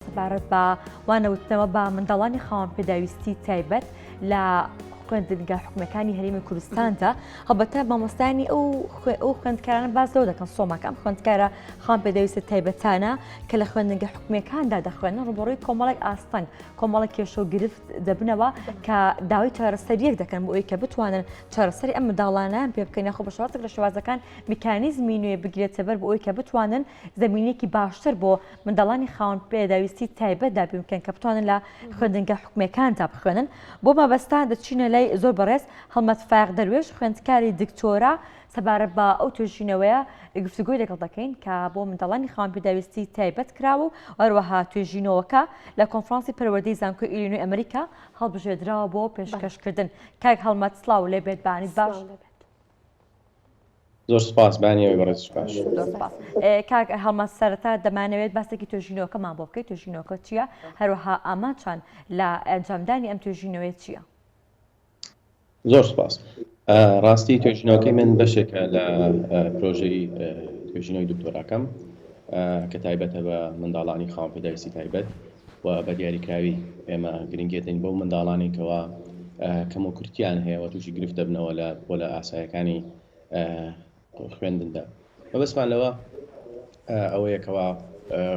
سەبارەت بە وانەوتنەوە بە منداڵانی خاوەن پێداویستی تایبەت لە خوێندنگە حکومەکانی هەرمی کوردستاندا هەڵبەتە مامۆستانی ئەو ئەو خوێندکارانە باز لەو دەکەن سۆماکەم خوێندکارە خان پێدەویستە تایبەتانە کە لە خوێندنگە حکومەکاندا دەخوێنن ڕوبڕووی کۆمەڵێک ئاستەنگ کۆمەڵی کێشە و گرفت دەبنەوە کە داوای چارەسەریەک دەکەن بۆ ئەوی کە بتوانن چارەسەری ئەم منداڵانیان پێ بکەن یاخۆ بە شوازێک لە شوازەکان میکانیزمی نوێ بگرێتە بەر بۆ ئەوی کە بتوانن زەمینەیەکی باشتر بۆ منداڵانی خاوەن پێداویستی تایبەت دابین بکەن کە بتوانن لە خوێندنگە حکومەکاندا بخوێنن بۆ مەبەستا دەچینە لای زۆر بەڕێز هەڵمەت فایق دەروێش خوێندکاری دکتۆرا سەبارەت بە ئەو توێژینەوەیە گفتوگۆی لەگەڵ دەکەین کە بۆ منداڵانی خاوەن پێداویستی تایبەت کراوە و هەروەها توێژینەوەکە لە کۆنفرانسی پەروەردەی زانکۆی ئیلینۆی ئەمریکا هەڵبژێدراوە بۆ پێشکەشکردن کاک هەڵمەت سڵاو لێبێت بەعنیت باش زۆر سپاس بانیەوەی بەڕێز سوپاس زۆر سپاس کاک هەڵمە سەرەتا دەمانەوێت باسێکی توێژینەوەکەمان بۆ بکەیت توێژینەوەکە چییە هەروەها ئامانچان لە ئەنجامدانی ئەم توێژینەوەی چییە زۆر سپاس ڕاستی توێژینەوەکەی من بەشێکە لە پرۆژەی توێژینەوەی دکتۆراکەم کە تایبەتە بە منداڵانی خاوەن پێداویستی تایبەت و بە دیاریکراوی ئێمە گرنگیە دەین بەو منداڵانەی کەوا کەموکورتیان هەیە و تووشی گرفت دەبنەوە لە پۆلە ئاسایەکانی خوێندندا مەبەستمان لەوە ئەوەیەکەوە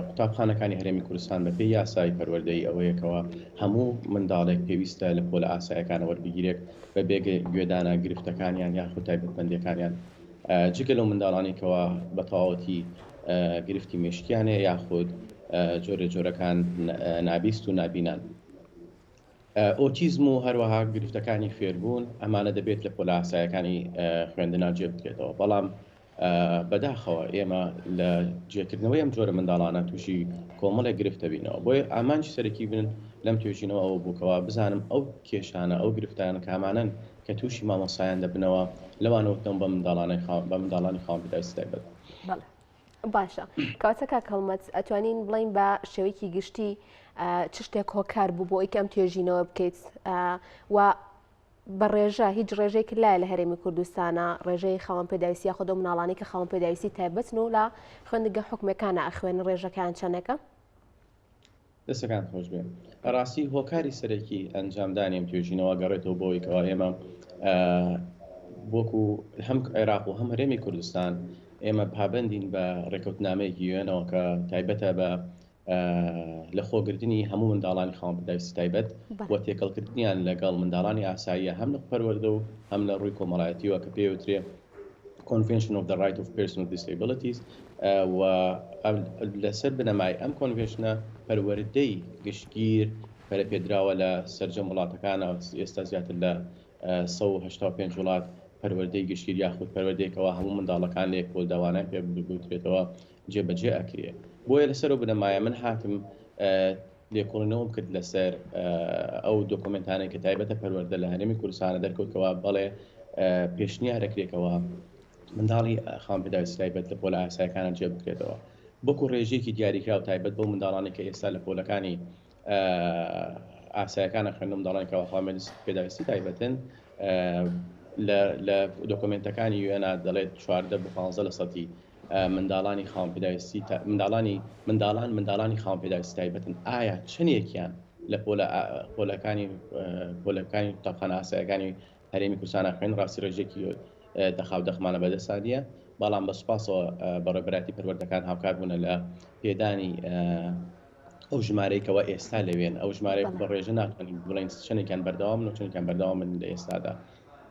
قوتابخانەکانی هەرێمی کوردستان بەپێی یاسای پەروەردەی ئەوەیەکەوە هەموو منداڵێک پێویستە لە پۆلە ئاسایەکانەوە بگیرێت بە بێگە گوێدانە گرفتەکانیان یاخود تایبەتمەندەکانیان جگە لەو منداڵانەی کەوا بە تەواوەتی گرفتی مێشکیان هەیە یاخود جۆرێ جۆرەکان نابیست و نابینان. ئۆتیزم و هەروەها گرفتەکانی فێربوون ئەمانە دەبێت لە پۆلە ئاسایەکانی خوێندنا جێ بکرێتەوە بەڵام بەداخەوە ئێمە لە جێکردنەوەی ئەم جۆرە منداڵانە تووشی کۆمەڵێک گرفت دەبینەوە بۆیە ئامانجی سەرەکی بن لەم توێژینەوە ئەوە بوو کەوا بزانم ئەو کێشانە ئەو گرفتانە کامانەن کە تووشی مامۆستایان دەبنەوە لەوانەوتنەوە بە منداڵانە بە منداڵانی خاوەن پیداویستی تایبەت. بەڵێ. باشە کاتە کاک هەڵمەت ئەتوانین بڵین بە شێوەیەکی گشتی چ شتێک هۆکار بوو بۆ ئەوی ئەم توێژینەوە بکەیت و بە ڕێژە هیچ ڕێژێک لای لە هەرێمی کوردستانە ڕێژەی خاوەن پێداویستی یا خۆدە مناڵانی کە خاوەن پێداویستی تایبەتن و لە خوێندگە حکومەکانە ئەخوێن ڕێژەکان چەندەکە دەستەکانت خۆشبێ بەڕاستی هۆکاری سەرەکی ئەنجامدانی ئەم توێژینەوە گەڕێتەوە بۆی کەوا ئێمە وەکو هەم عێراق و هەم هەرێمی کوردستان ئێمە پابندین بە ڕێکوتنامەیەکی یوێنەوە کە تایبەتە بە لە خۆگرتنی هەموو منداڵانی خاوەن پدایستی تایبەت و تێکەڵکردنیان لەگەڵ منداڵانی ئاساییە هەم لە پەروەردە و هەم لە ڕووی کۆمەڵایەتیوە کە پێوترێ Convention of the Right of Persons with Disabilities و لەسەر بنەمای ئەم کۆنڤێشنە پەروەردەی گشتگیر پەرەپێدراوە لە سەرجەم وڵاتەکانە ئێستا زیاتر لە 1970 وڵات پەروەردەی گشتگیر یاخود پەروەردەیەکەوە هەموو منداڵەکان لە یەکۆلداوانان پێ بگوترێتەوە جێبەجێ ئەکرێ بۆیە لەسەر و بنەمایە من هاتم لێکۆڵینەوەم کرد لەسەر ئەو دۆکۆمێنتانەی کە تایبەتە پەروەردە لە هەرێمی کوردستانە دەرکەوت کەوا بەڵێ پێشنیارەکرێ کەوا منداڵی خاوەن پێداویستی تایبەت لە پۆلە ئاسایەکانە جێ بکرێتەوە وەکو ڕێژەیەکی دیاریکراو تایبەت بەو منداڵانی کە ئێستا لە پۆلەکانی ئاسایەکانە خوێندن منداڵانی کەوا خاوەن پێداویستی تایبەتن لە دۆکۆمێنتەکانی یوێنا دەڵێت چواردە بۆ پانزە لە سەدی منداڵانی خاوەن پێداویستی تا منداڵانی منداڵان منداڵانی خاوەن پێداویستی تایبەتن ئایا چەندێکیان لە پۆلە پۆلەکانی پۆلەکانی قوتابخانە ئاسایەکانی هەرێمی کوردستان خوێن ڕاستی ڕێژێکی دەخاو دەخمانە بەدەسانە بەڵام بە سوپاسەوە بە ڕێبەراتی پەروەردەکان هاوکار بوونە لە پێدانی ئەو ژمارەیەکەوە ئێستا لەوێن ئەو ژمارەیە بە ڕێژە ناتوانین بڵێن چەندێکیان بەردەوام و چەندێکیان بەردەوام من لە ئێستادا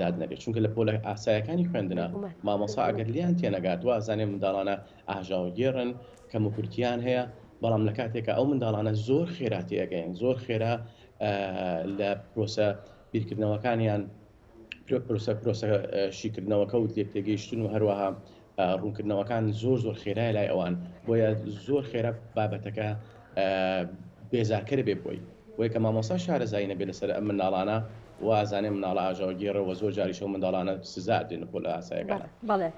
داد نەبێت چونکە لە پۆلە ئاسایەکانی خوێندنە مامۆسا ئەگەر لێیان تێنەگات وازانێ منداڵانە ئاژاوەگێڕن کەم و کورتیان هەیە بەڵام لە کاتێکە ئەو منداڵانە زۆر خێرا تێگەیان زۆر خێرا لە پرۆسە بیرکردنەوەکانیان پرۆسە پرۆسە شیکردنەوەکە و لێک تێگەیشتن و هەروەها ڕوونکردنەوەکان زۆر زۆر خێرایە لای ئەوان بۆیە زۆر خێرا بابەتەکە بێزارکەر بێ بۆی وەی کە مامۆسا شارەزایی نەبێت لەسەر ئەم منداڵانە و ئازانێ مناڵە ئاژاوەگێڕەوە زۆر جاریشەوە منداڵانە سزا دێن بۆ لە ئاسایەکان بڵێ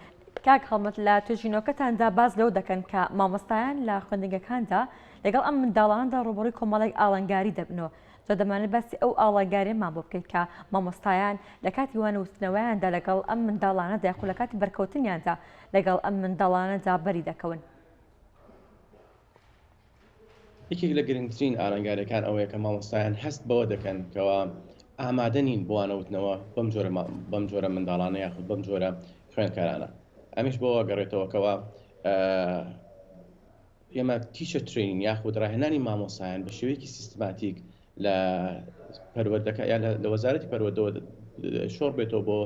کاک هەڵمەت لە توێژینەوەکەتاندا باز لەو دەکەن کە مامۆستایان لە خوێندنگەکاندا لەگەڵ ئەم منداڵاندا ڕوبڕی کۆمەڵێک ئاڵنگاری دەبنەوە جا دەمانەوێت باسی ئەو ئاڵاگاریەمان بۆ بکەیت کە مامۆستایان لە کاتی وانووتنەوەیاندا لەگەڵ ئەم منداڵانەدا یاخو لە کاتی بەرکەوتنیاندا لەگەڵ ئەم منداڵانەدا بەری دەکەون. یەکێک لە گرنگترین ئالنگاریەکان ئەوەیە کە مامۆستایان هەست بەوە دەکەن کەوا ئامادە نین بۆ وانەوتنەوە بەم جۆرە بەم جۆرە منداڵانە یاخود بەم جۆرە خوێندکارانە ئەمیش بۆ ئەگەڕێتەوە کەوا ئێمە تیچەر ترەینین یاخود ڕاهێنانی مامۆسایان بە شێوەیەکی سیستماتیک لە پەروەردەکە یان لە وەزارەتی پەروەردەوە شۆڕ بێتەوە بۆ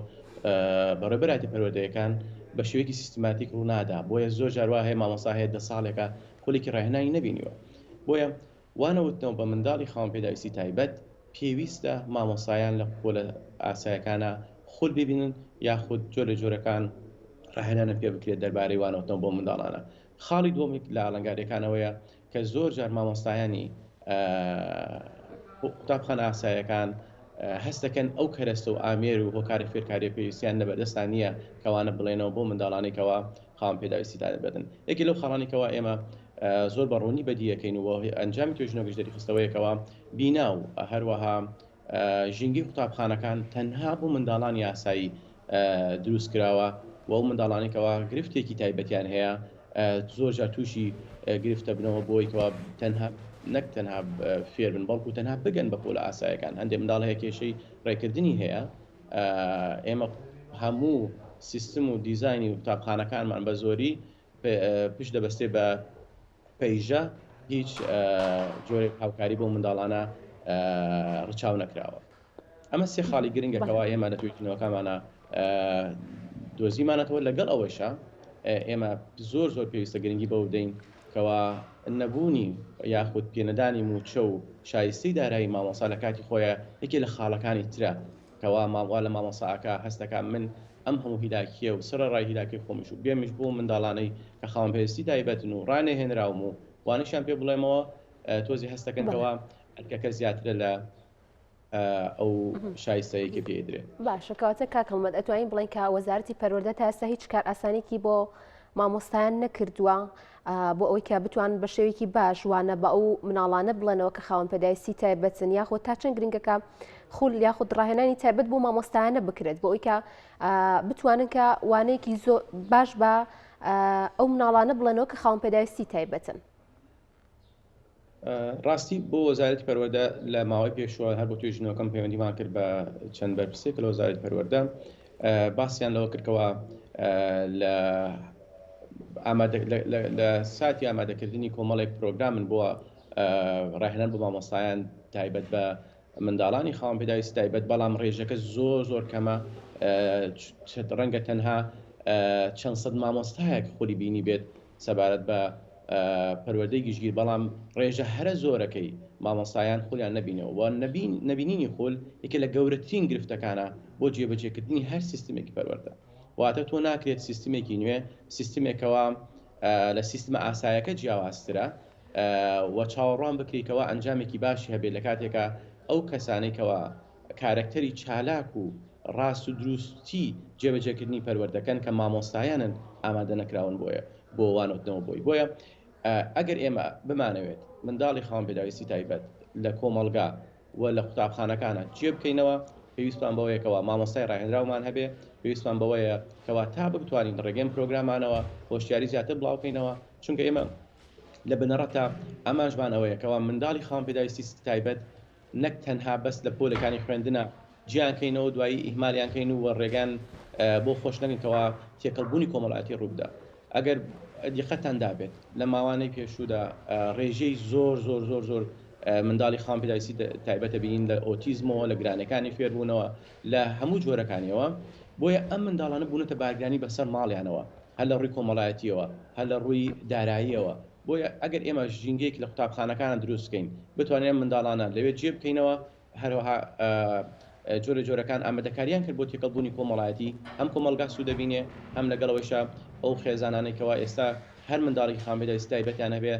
بەڕێبەراتی پەروەردەیەکان بە شێوەیەکی سیستماتیک ڕوونادا بۆیە زۆر جاروا هەیە مامۆسا هەیە دە ساڵێکە خولێکی ڕاهێنانی نبینیوە بۆیە وانەوتنەوە بە منداڵی خاوەن پێداویستی تایبەت پێویستە مامۆسایان لە پۆلە ئاسایەکانە خول ببینن یاخود جۆرە جۆرەکان ڕاهێنانە پێ بکرێت دەربارەی وانەوتنەوە بۆ منداڵانە خاڵی دووەمی لە ئالنگاریەکانەوەیە کە زۆر جار مامۆستایانی قوتابخانە ئاسایەکان هەست دەکەن ئەو کەرەستە و ئامێر و هۆکارە فێرکاریە پێویستیان نەبەردەستان نییە کەوانە بڵێنەوە بۆ منداڵانی کەەوە خاوەن پێداویستی دادەبێتن یەکی لەو خاڵانی کەەوە ئێمە زۆر بە ڕوونی بەدیەکەین و ئەنجامی توێژنەوەگەش دەریخستەوەیەکەوە بینا و هەروەها ژینگەی قوتابخانەکان تەنها بۆ منداڵانی ئاسایی دروست کراوە و ئەو منداڵانەی کەوا گرفتێکی تایبەتیان هەیە زۆر جار تووشی گرفتە بنەوە بۆی کەوا تەنها نەک تەنها فێر بن بەڵکو تەنها بگەن بە پۆلە ئاسایەکان هەندێک منداڵ هەیە کێشەی ڕێکردنی هەیە ئێمە هەموو سیستم و دیزانی و قوتابخانەکانمان بە زۆری پشت دەبەستێت بە پەیژە هیچ جۆرێک هاوکاری بۆ منداڵانە ڕچاو نەکراوە ئەمە سێ خاڵی گرنگەکەەوە ئێمە لە توێژینەوەکانمانە دۆزیمانەتەوە لەگەڵ ئەوەیشە ئێمە زۆر زۆر پێویستە گرنگی بەو بدەین کەوا نەبوونی یاخود پێنەدانی موچە و شایستەی دارایی مامۆسا لە کاتی خۆیان یەکێ لە خاڵەکانی ترە کوا مام وا لە مامۆستا ئاکا هەست دەکا من ئەم هەموو هیلاکیە و سەرە ڕای هیلاکەی خۆمیش و بێمیش بۆ منداڵانەی کە خاوەن پێویستی تایبەتن و ڕا نەهێنراوم و وانەشیان پێ بڵێمەوە تۆزی هەست دەکەن کەوا ئەرکەکە زیاترە لە ئەو شایستەیە کە پێ ئەدرێ باشە کەواتە کاک هەڵمەت ئەتوانین بڵێن کە وەزارەتی پەروەردە تا ئێستا هیچ کار ئاسانێکی بۆ مامۆستایان نەکردووە بۆ ئەوەی کە بتوان بە شێوێکی باش وانە بە ئەو مناڵانە بڵێنەوە کە خاوەن پێدایستی تایبەتن یاخۆ تا چەند گرنگەکە خول یاخود ڕاهێنانی تایبەت بۆ مامۆستایانە بکرێت بۆ ئەویکە بتوانن کە وانەیەکی زۆ باش بە ئەو مناڵانە بڵێنەوە کە خاوەن پێداویستی تایبەتن ڕاستی بۆ وەزارەتی پەروەردە لە ماوەی پێشوە هەر بۆ توێژی نۆکەم پەیوەندیمان کرد بە چەند بەرپرسێک لە وەزارەتی پەروەردە باسییان لەوە کردەوە لە لە ساتی ئامادەکردنی کۆمەڵێک پرۆگرامن بۆ ڕاهێنان بۆ مامۆستایان تایبەت بە منداڵانی خاوەن پێداویست تایبەت بەڵام ڕێژەکە زۆر زۆر کەمە ڕەنگە تەنها چەند سەد مامۆستایەک خولی بینی بێت سەبارەت بە پەروەردەی گشتگیر بەڵام ڕێژە هەرە زۆرەکەی مامۆستایان خولیان نەبینەوە و نەبینینی خول یەکێ لە گەورەترین گرفتەکانە بۆ جێبەجێکردنی هەر سیستمێکی پەروەردە واتە تۆ ناکرێت سیستمێکی نوێ سیستمێک کەوا لە سیستمە ئاسایەکە جیاوازترە و چاوەڕوان بکری کەوا ئەنجامێکی باشی هەبێت لە کاتێکە ئەو کەسانێکەوە کارەکتەری چالاک و ڕاست و دروستی جێبەجێکردنی پەروەردەکەن کە مامۆستایانن ئامادە نەکراون بۆیە بۆ وانۆتنەوە بۆی بۆیە ئەگەر ئێمە بمانەوێت منداڵی خاوەن پێداویستی تایبەت لە کۆمەڵگا و لە قوتابخانەکانە جێ بکەینەوە پێویستمان بەوەیە کەوا مامۆستای ڕاهێنراومان هەبێ پێویستمان بەوەیە کەوا تا بتوانین ڕێگەم پرۆگرامانەوە هۆشیاری زیاتر بڵاوکەینەوە چونکە ئێمە لە بنەڕەتە ئامانجمان ئەوەیە کەوا منداڵی خاوەن پێداویستی تایبەت نەک تەنها بەس لە پۆلەکانی خوێندنا جیان کەینەوە دوایی ئیهمالیان کەین و رێگان بۆ خۆش نەکەین کەوا تێکەڵ بوونی کۆمەڵایەتی رووبدا ئەگەر دیقەتتان دابێت لە ماوانەی پێشوودا رێژەی زۆر زۆر زۆر زۆر منداڵی خاوەن پێداویستی تایبەت دەبینین لە ئۆتیزمەوە لە گرانەکانی فێربوونەوە لە هەموو جۆرەکانیەوە بۆیە ئەم منداڵانە بوونەتە بارگرانی بەسەر ماڵیانەوە هەر لە رووی کۆمەڵایەتیەوە هەر لە رووی داراییەوە بۆیە ئەگەر ئێمە ژینگەیەک لە قوتابخانەکانە دروست بکەین بتوانین ئەم منداڵانە لەوێ جێ بکەینەوە، هەروەها جۆرە جۆرەکان ئامادەکارییان کرد بۆ تێکەڵبوونی کۆمەڵایەتی، هەم کۆمەڵگا سوود دەبینێ، هەم لەگەڵ ئەوەیشا ئەو خێزانانەی کەوا ئێستا هەر منداڵێکی خانبەدەیسی تایبەتیان هەبێ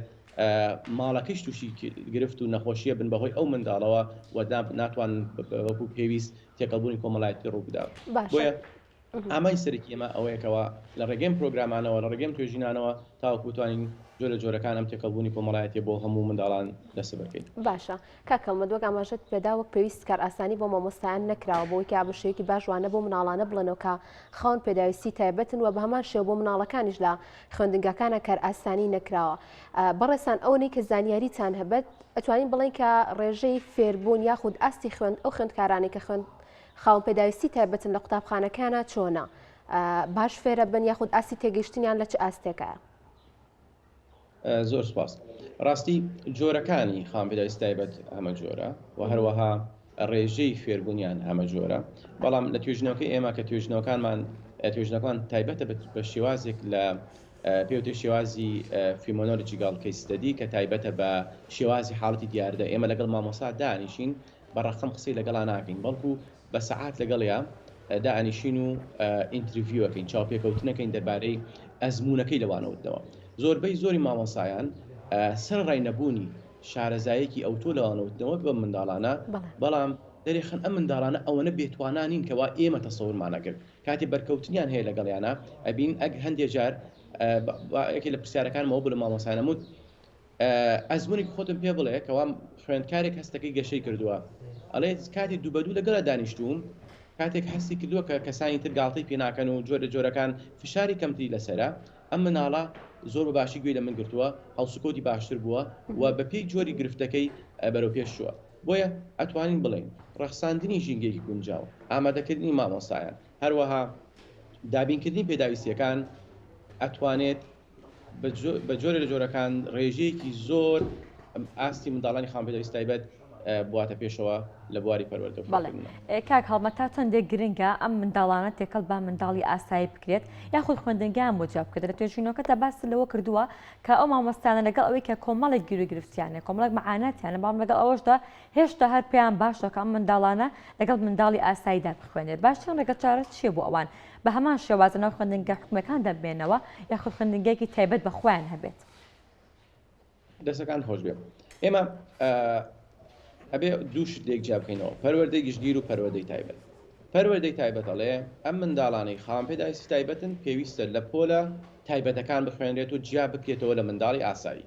ماڵەکەیش تووشی گرفت و نەخۆشییە بن بەهۆی ئەو منداڵەوە و ناتوانن وەکوو پێویست تێکەڵبوونی کۆمەڵایەتی ڕوو بدا. باشە. ئامانجی سەرەکی ئێمە ئەوەیە کەوا لە ڕێگەی ئەم پرۆگرامانەوە، لە ڕێگەی ئەم توێژینانەوە تاوەکو بتوانین جۆرە جۆرەکان ئەم تێکەڵبوونی کۆمەڵایەتیە بۆ هەموو منداڵان دەستەبەر بکەین. باشە کاک هەڵمەت وەک ئاماژەت پێدا وەک پێویست کارئاسانی بۆ مامۆستایان نەکراوە بەوەی کە بە شێوەیەکی باش وانە بەو منداڵانە بڵێنەوە کە خاوەن پێداویستی تایبەتن و بە هەمان شێوە بۆ منداڵەکانیش لە خوێندنگاکانە کارئاسانی نەکراوە. بەڕێزتان ئەوەی کە زانیاریتان هەبێت ئەتوانین بڵێین کە ڕێژەی فێربوون یاخود ئاستی خوێند ئەو خوێندکارانەی کە خوێند خاوەن پێداویستی تایبەتن لە قوتابخانەکەیانا چۆنە باش فێرە بن یاخود ئاستی تێگەیشتنیان لە چ ئاستێکایە؟ زۆر سپاس ڕاستی جۆرەکانی خاوەن پێداویستی تایبەت هەمە جۆرە و هەروەها ڕێژەی فێربوونیان هەمە جۆرە بەڵام لە توێژنەوەکەی ئێمە کە توێژنەوەکانمان توێژنەکان تایبەتە بە شێوازێک لە پێوتێ شێوازی فیمۆنۆلجیگەڵ کەیستەدی کە تایبەتە بە شێوازی حاڵەتی دیاردە ئێمە لەگەڵ مامۆسا دانیشین بە ڕەقەم قسەی لەگەڵا ناکەین بەڵکو بە سەعات لەگەڵیا دائەنیشین و ئینتریڤیو ئەکەین چاوپێکەوتنەکەین دەربارەی ئەزمونەکەی لەوانەوتنەوە زۆربەی زۆری مامۆسایان سەرڕای نەبوونی شارەزایەکی ئەوتۆ لەوانەوتنەوە بە منداڵانە بەڵام دەرێخن ئەم منداڵانە ئەوەنە بێتوانانین کەوا ئێمە تەسەورمانەکرد کاتی بەرکەوتنیان هەیە لەگەڵیانە ئەبین ئەگ هەندێ جار یەکێ لە پرسیارەکانمەوە بە لە مامۆسانەموت ئەزمونێکی خۆتم پێ بڵێ کەوا خوێندکارێک هەستەکەی گەشەی کردووە ئەڵێ کاتی دوو بەدوو لەگەڵ دانیشتووم کاتێک هەستی کردووە کە کەسانی تر گاڵتەی پێناکەن و جۆرە جۆرەکان فشاری کەمتری لەسرە ئەم مناڵە زۆر بە باشی گوێی لە من گرتووە هەڵسوکەوتی باشتر بووە و بەپێی جۆری گرفتەکەی بەرەو پێش چووە بۆیە ئەتوانین بڵێین ڕەخساندنی ژینگەیەکی گونجاو ئامادەکردنی مامۆستایان هەروەها دابینکردنی پێداویستیەکان ئەتوانێت بە جۆرێ لە جۆرەکان ڕێژەیەکی زۆر ئاستی منداڵانی خاوەن پێداویستی تایبەت بواتە پێشەوە لە بواری پەروەردە و فێرکردندا. بەڵێ کاک هەڵمەت تا چەندێک گرنگە ئەم منداڵانە تێکەڵ بە منداڵی ئاسایی بکرێت یاخود خوێندنگایان بۆ جیا بکرێت؟ لە توێژینەوەکەدا باست لەوە کردووە کە ئەو مامۆستایانە لەگەڵ ئەوەی کە کۆمەڵێک گیروگرفتیان هەیە، کۆمەڵێک مەعاناتیان هەیە، بەڵام لەگەڵ ئەوەشدا هێشتا هەر پێیان باشە کە ئەم منداڵانە لەگەڵ منداڵی ئاساییدا بخوێنێت، باشترین ڕێگەچارە چییە بۆ ئەوان؟ بە هەمان شێواز لەناو خوێندنگە حکومیەکاندا بمێنەوە یاخود خوێندنگەیەکی تایبەت بە خۆیان هەبێت. دەستەکانت خۆشبێ ئێمە ئەبێ دوو شت لێک جیا بکەینەوە پەروەردەی گشتگیر و پەروەردەی تایبەت پەروەردەی تایبەت ئەڵێ ئەم منداڵانەی خاوەن پێداویستی تایبەتن پێویستە لە پۆلە تایبەتەکان بخوێنرێت و جیا بکرێتەوە لە منداڵی ئاسایی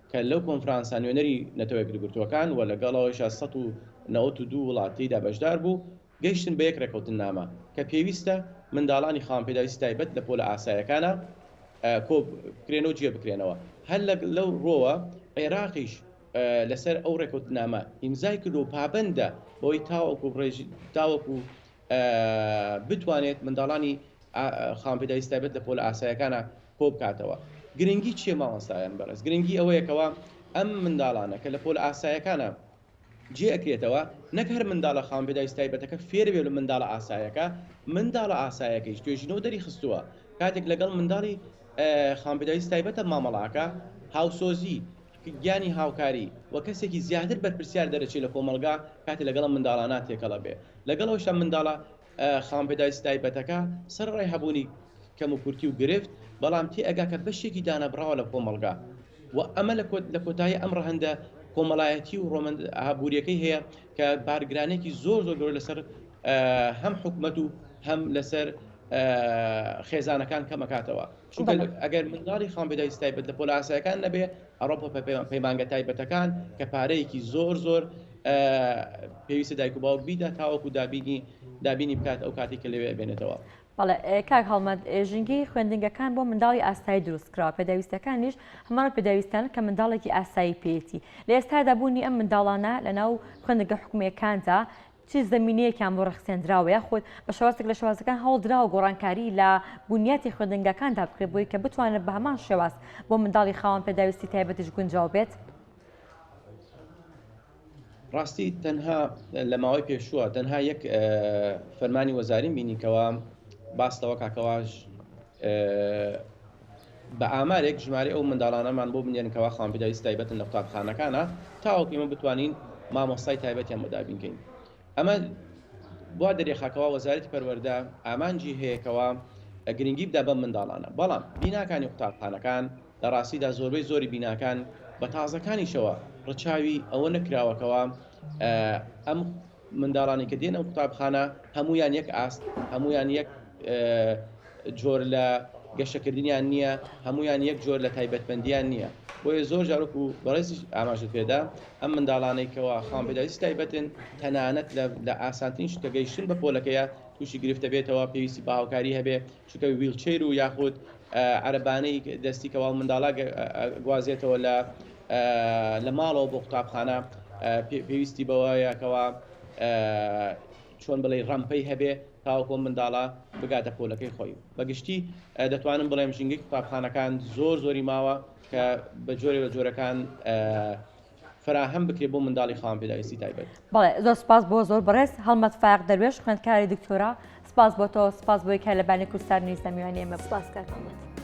کە لەو کۆنفرانسە نوێنەری نەتەوە یەکگرتووەکان و لەگەڵ ئەوەیشا سەد و نەوەت و دوو وڵات تێیدا بەشدار بوو، گەیشتن بە یەک ڕێککەوتننامە کە پێویستە منداڵانی خاوەن پێداویستی تایبەت لە پۆلە ئاسایەکانا کۆ بکرێن و جێ بکرێنەوە. هەر لە لەو ڕووەوە عێراقیش لەسەر ئەو ڕێککەوتننامە ئیمزای کردووە و پابەندە بەوەی تاوەکو ڕێژ تاوەکو بتوانێت منداڵانی خاوەن پێداویستی تایبەت لە پۆلە ئاسایەکانا کۆبکاتەوە گرنگی چیە مامۆستایان بەڕێز؟ گرنگی ئەوەیە کەوا ئەم منداڵانە کە لە پۆلە ئاسایەکانە جێ ئەکرێتەوە نەک هەر منداڵە خاوەن پێداویستە تایبەتەکە فێر بێ لە منداڵە ئاسایەکە منداڵە ئاسایەکەیش توێژینەوە دەری خستووە کاتێک لەگەڵ منداڵی خاوەن پێداویست تایبەتە مامەڵە ئەکا هاوسۆزی گیانی هاوکاری و کەسێکی زیاتر بەرپرسیار دەرەچێ لە کۆمەڵگا کاتێ لەگەڵ ئەم منداڵانە تێکەڵ ئەبێ لەگەڵ ئەوەشدا منداڵە خاوەن پێداویستیە تایبەتەکە سەرەڕای هەبوونی کەموکورتی و گرفت، بەڵام تێئەگاکە بەشێکی دانەبڕاوە لە کۆمەڵگا و ئەمە لە کۆتایی ئەم ڕەهەندە کۆمەڵایەتی و ڕۆمەند ئابووریەکەی هەیە کە بارگرانێکی زۆر زۆر گەورە لەسەر هەم حکومەت و هەم لەسەر خێزانەکان کەمەکاتەوە چونکە ئەگەر منداڵی خاوەن پێداویستی تایبەت لە پۆلە ئاسایەکان نەبێ ئەڕۆپا پەیمانگە تایبەتەکان کە پارەیەکی زۆر زۆر پێویستە دایک و باوک بیدا تاوەکو دابینی دابینی بکات ئەو کاتی کە لەوێ بێنێتەوە. بەڵێ کاک هەڵمەت ژینگەی خوێندنگەکان بۆ منداڵی ئاسایی دروست کراوە پێداویستەکانیش هەمان پێداویستانە کە منداڵێکی ئاسایی پێیەتی لە ئێستادا بوونی ئەم منداڵانە لەناو خوێندنگە حکومیەکاندا چ زەمینەیەکیان بۆ ڕەخسێندراوە یاخود بە شێوازێک لە شێوازەکان هەوڵدراوە گۆڕانکاری لە بنیاتی خوێندنگاکاندا بکرێت بۆی کە بتوانێت بە هەمان شێواز بۆ منداڵی خاوەن پێداویستی تایبەتیش گونجاو بێت؟ ڕاستی تەنها لە ماوەی پێشووە تەنها یەک فەرمانی وەزاریم بینی کەوا باس لەوە کاکەواژ بە ئامارێک ژمارەی ئەو منداڵانەمان بۆ بنێرن کەوا خاوەنپێداویستی تایبەتن لە قوتابخانەکانا تاوەکو ئێمە بتوانین مامۆستای تایبەتیان بۆ دابین کەین ئەمە وا دەریخا کەوا وەزارەتی پەروەردە ئامانجی هەیە کەوا گرنگی بدا بەم منداڵانە بەڵام بیناکانی قوتابخانەکان لە ڕاستیدا زۆربەی زۆری بیناکان بە تازەکانیشەوە ڕچاوی ئەوە نەکراوە کەوا ئەم منداڵانی کە دێنە قوتابخانە هەموویان یەک ئاست هەموویان یەک جۆر لە گەشەکردنیان نییە هەمویان یەک جۆر لە تایبەتمەندیان نییە بۆیە زۆر جارک و بەڕێزی ئاماژت پێدا ئەم منداڵانێکەوە خان پێداویست تایبەتن تەنانەت لە ئاسانترین شتەگەیشتن بە پۆلەکەیە تووشی گرفتە بێتەوە پێویستی باوکاری هەبێ چونکە ویڵچەیر و یاخود عەرەبانەی دەستی کەوا و منداڵاگ ئەگوازێتەوە لە لە ماڵەوە بۆ قوتابخانە پێویستی بەوەیە کەوا چۆن بڵێ ڕەمپەی هەبێ تاوەکۆ منداڵە بگاتە پۆلەکەی خۆی بەگشتی دەتوانم بڵێم ژینگەی قوتابخانەکان زۆر زۆری ماوە کە بە جۆرێ بە جۆرەکان فەراهەم بکرێت بۆ منداڵی خاوەن پێداویستی تایبەت. بەڵێ زۆر سپاس بۆ زۆر بەڕێز هەڵمەت فایەق دەروێش خوێندکاری دکتۆرا سپاس بۆ تۆ سپاس بۆی کە لە بانی کوردستان نیز لە میوانی ئێمە بوو. سپاس کاک هەڵمەت.